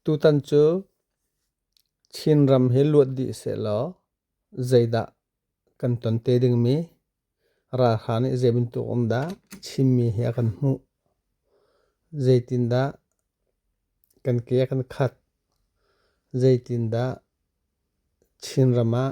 Tutan cu Chinram hi luat dih sehlaw zeidah kan ton te dingmi ralhra nih zeibantuk um dah chimmi hi a kan hmuh. Zeitindah kan ke a kan khat. Zeitindah Chinram ah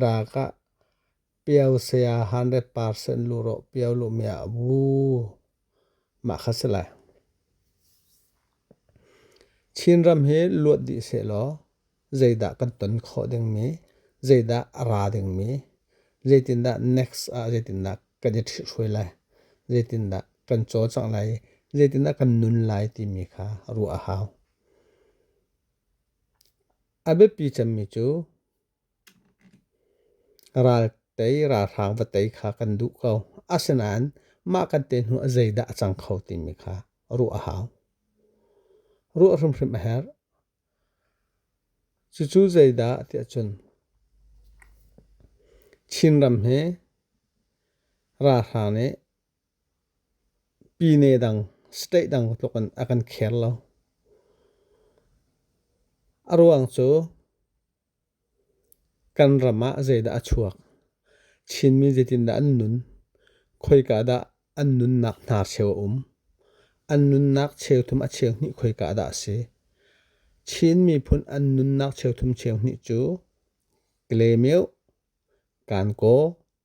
Dak ah Pio saya hundred percent lurawh Pio luhmi ah wuu mah kha si lai. Chinram hi luat dih sehlaw zeidah kan ton khawh dingmi, zeidah a ra dingmi, zeitindah next ah zeitindah kan i ṭhithruai lai, zeitindah kan cawcangh lai i zeitindah kan nun lai timi kha ruah a hau. A biapi cemmi cu raltei ralhrang va tei kha kan duh ko. Asinain mah kan te hnu ah zeidah a cang kho timi kha ruah a hau. Ruah hrimhrim a herh. Cucu zeidah tiah cun Chinram hi ralhrang nih Pyine dang state dang tluk in a kan care lo. A ruang cu kan ram ah zeidah a chuak, Chinmi zeitindah an nun, khoika dah an nunnak hna cheu a um, an nunnak cheu thum a cheu hnih khoika dah a si. Chin miphun an nunnak cheu thum cheu hnih cu Klemyo, Kankaw,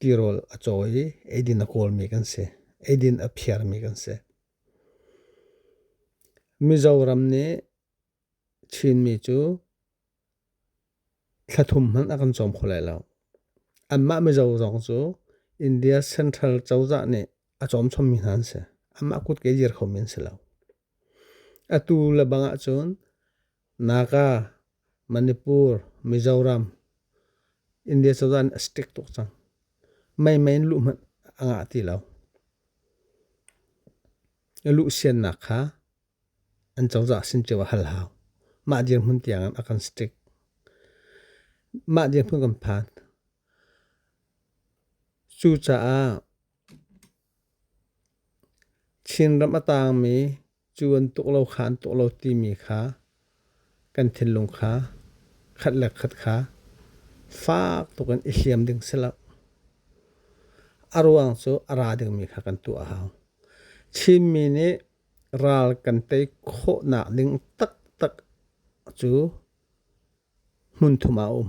Tirawl a cawi i eidin a kawlmi kan si. Eidin a phiarmi kan si. Mizoram nih Chinmi cu thlathum hmanh a kan cawm kho lai lo. Anmah Mizo zong cu India Central cozah nih a cawmchawmmi hna an si. Anmah kutke dir khomi an si lo. Atu le bangah cun Naga, Manipur, Mizoram, India cu an stick tuk cang. Meimei in luh hmanh a ngah ti lo. Na luh siannak kha an cozah sin ceu a hal hau. Mah dirhmun tiang a kan stick. Mah dirhmun kan phan. Cucaah Chinram a taangmi cu an tuk lo kha an tuk lo timi kha kan thinlung kha khat le khat kha fak tuk in i hliam ding si lo. A ruang cu a ra dingmi kha kan tuah a hau. Chinmi nih ral kan tei khawhnak ding taktak cu hmunthum ah a um.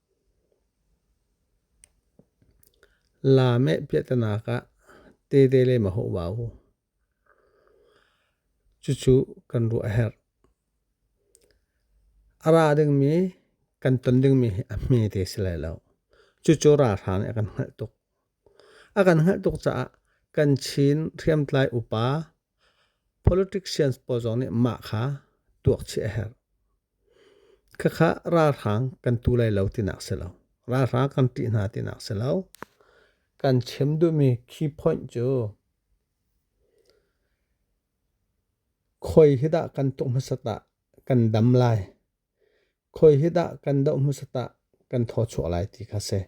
La meh piahtanak ah tete le ma hawh vau. Cucu kan ruah a herh. A ra dingmi kan ton dingmi hi a hme te si lai lo. Cucu ralhra nih a kan hngalh tuk. A kan hngalh tuk caah kan Chin hriamtlai upa Politicians pawl zong nih mah kha tuakchih a herh. Khakha ralhrang kan tu lai lo tinak si lo. Ralhrang kan ṭih hna tinak si lo. Kan chim duhmi key point cu khawi hi dah kan tuk hmasat ah kan dam lai Khawi hi dah kan doh hmasat ah kan thaw-chuah lai ti kha si.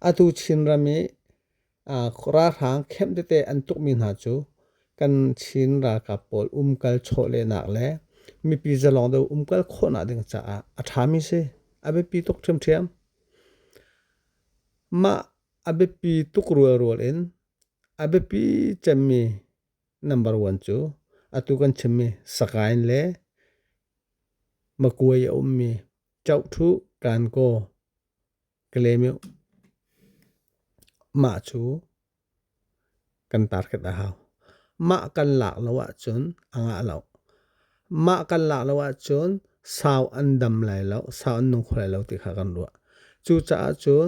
Atu Chinram i ralhrang camp tete an tukmi hna cu kan Chin ralkap pawl umkal chawlehnak le mipi zalawng deuh umkal khawhnak ding caah a ṭhami si. A biapi tuk ṭhiamṭhiam. Mah a biapi tuk rualrual in a biapi cemmi Number one cu atu kan chimmi sakain le makuai a ummi chohthu kanko kalemiu mah cu kan target a hau. Mah kan lak lo ahcun a ngah lo. Mah kan lak lo ahcun sau an dam lai lo, sau an nung kho lai lo ti kha kan ruah. Cucaah cun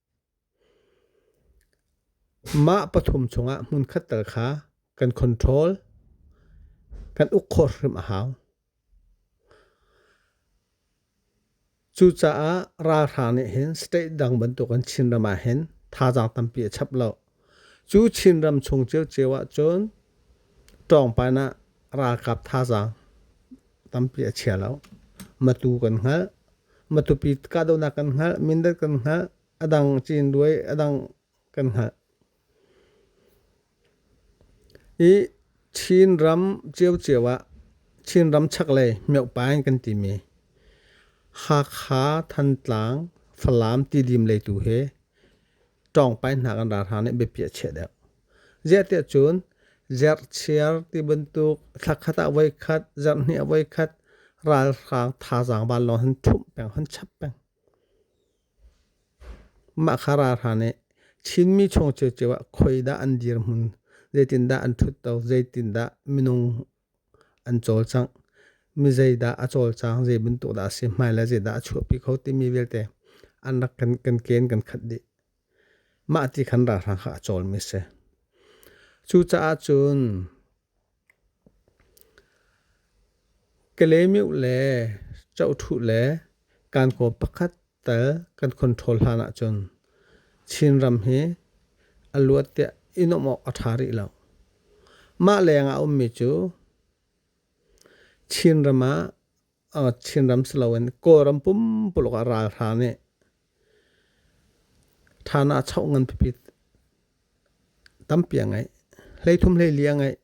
Mah pathum chungah hmunkhat tal kha kan control, kan uk khawh hrim a hau. Cucaah ralhrang nih hin state dang bantuk in Chinram ah hin thazaang tampi a chap lo. Cu Chinram chung ciocio ahcun ṭawngpan ah ralkap thazaang tampi a chia lo. Matu kan hngalh, matupi kahdohnak kan hngalh, Mindat kan hngalh, a dang Cinduai, a dang kan hngalh. I Chinram ciocio ah Chinram chaklei Myohpa in kan timi Hakha, Thantlang, Falam tidim lei tu hi ṭawngpainak an ra hlan i biapi a chiah deuh. Ziahtiah cun zerchiar ti bantuk thlakhat ah voikhat, zarhhnih ah voikhat ralhrang thazaang van lawng han ṭhumh peng, han chap peng. Mah kha ra hlan i Chinmi chung cio cio ah khoi dah an dirhmun, zeitindah an ṭhutto, zeitindah minung an cawlcangh. Mi zeidah a cawlcang, zei bantuk dah a si, hmai le zeidah a chuahpi kho timi vialte an rak kan, kan ken kan khat dih. Mah ti khan ralhrang kha a cawlmi si. Cucaah cun Kalemiu le Chohthu le Kankaw pakhat Tel kan control hlan ahcun Chinram hi a luat tiah i nuamh awk a ṭha rih lo. Mah leng ah a ummi cu Chinram ah uh, Chinram si loin Kawlram pumpuluk ah ralhra nih ṭhan ah a choh ngan pipi tampi a ngeih. Hleithum hleili a ngeih.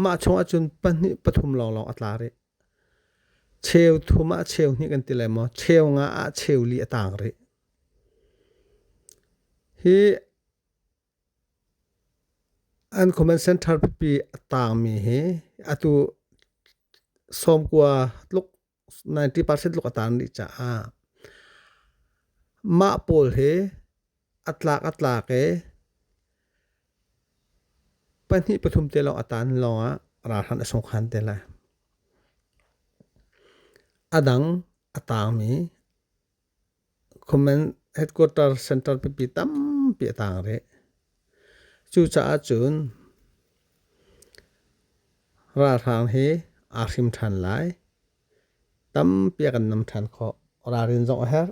Mah chung ahcun pahnih pathum lawnglawng a tla rih. Cheu thum ah cheu hnih kan ti lai maw? Cheu nga ah cheu li a tang rih. Hi an Command Center pipi a tangmi hi atu sawmkua tluk 90% tluk a tang rih caah mah pawl hi A tlak a tlak i pahnih pathum te lawng a taan lawngah ralhrang a sung khan te lai. A dang a taangmi Kuman headquarter center pipi tampi a taang rih. Cucaah cun ralhrang hi aa hrim ṭhan lai. Tampi a kan nam ṭhan khawh. Ralrin zong a herh.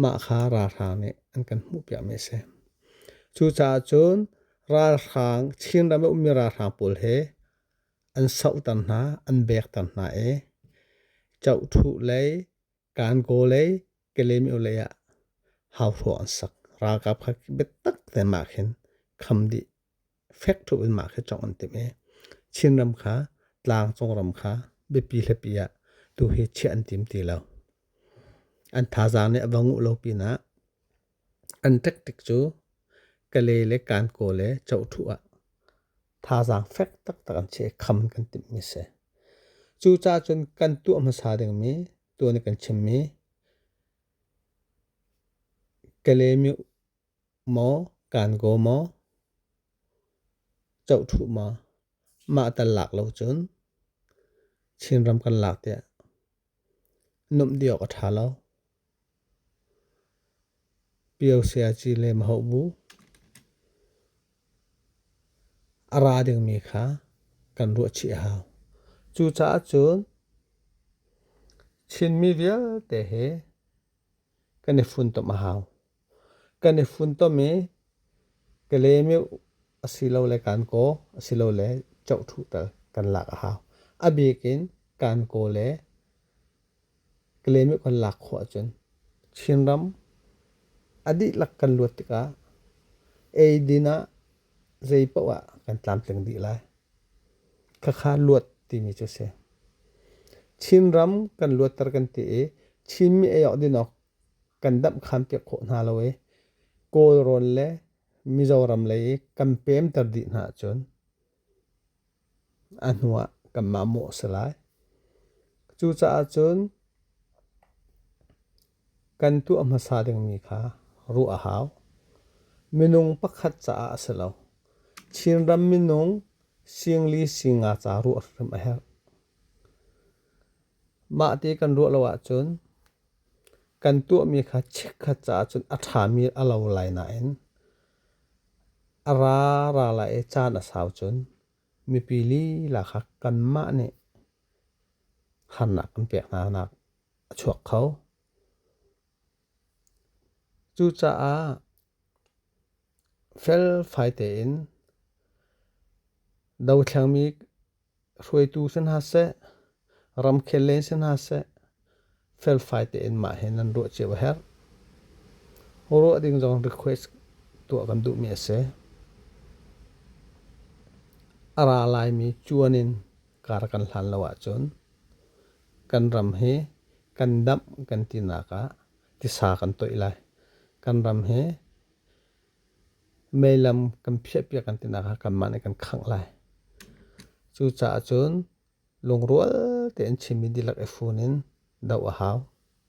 Mah kha ralhrang nih an kan hmuhpiakmi a si. Cucaah cun ralhrang, Chinram i ummi ralhrang pawl hi an sohter hna, an bekter hna i Chohthu lei, Kankaw lei, Kalaymyo lei ah hauhruang an sak. Ralkap kha biatak tein mah khin kham dih. fek tuk in mah khi cawk an timh i Chinram kha tlangcung ram kha biapi hlapi ah tu hi chiah an tim ti lo. An thazaang nih a va nguh lo pinah an tactic cu Kale le Kanko le Chohthu ah thazaang fek taktak an che kham kan timhmi si. Cu ca cun kan tuah hmasa dingmi tuan kan chimmi Kale mi Maw kaan kaw maw? Cohṭhuh maw? Mah tal lak lo cun Chinram kan lak tiah nuamh dih awk a ṭha lo. Pio sayaci le mahoh bu a ra dingmi kha kan ruahchih a hau. Cucaah cun Chinmi vialte he kan i funtom a hau. Kan i funtom i ka lem i asilole kaan kaw asilole cohṭhuhter kan lak a hau. A bik in kaan kaw le ka lem i kan lak khawh ahcun Chinram a dihlak kan luat tikah eidin ah zeipaoh ah kan tlamtling dih lai. Khakha luat timi cu a si. Chinram kan luatter kan ti i Chinmi ei awk din awk kan damhkhan piak khawh hna lo i Kawlrawn le Mizoram lei i kan peemter dih hna ahcun a hnu ah kanmah mawh a si lai. Cucaah cun kan tuah hmasa dingmi kha ruah a hau. Minung pakhat caah a si lo. Chinram minung singli singa ca ruah hrim a herh. Mah ti kan ruah lo ahcun Kan tuahmi kha chikkhat caah cun a ṭhami a lo lai nain a ra ra lai i caan a sau cun mipi lila kha kanmah nih harnak kan pek hnanak a chuak kho. Cucaah felfai tein dothlengmi hruaitu si hna seh, ramkhel lei si hna seh, felfai tein mah hi nan ruah cio a herh. Ho ruah ding zong request tuah kan duhmi a si. A ra laimi cuan in kar kan hlan lo ahcun kan ram hi kan damh kan tinak ah tisa kan toih lai. Kan ram hi Meilam kan phiahpiak kan tinak ah kanmah nih kan khangh lai. Cucaah cun lungrual tein Chinmi dihlak i fun in doh a hau.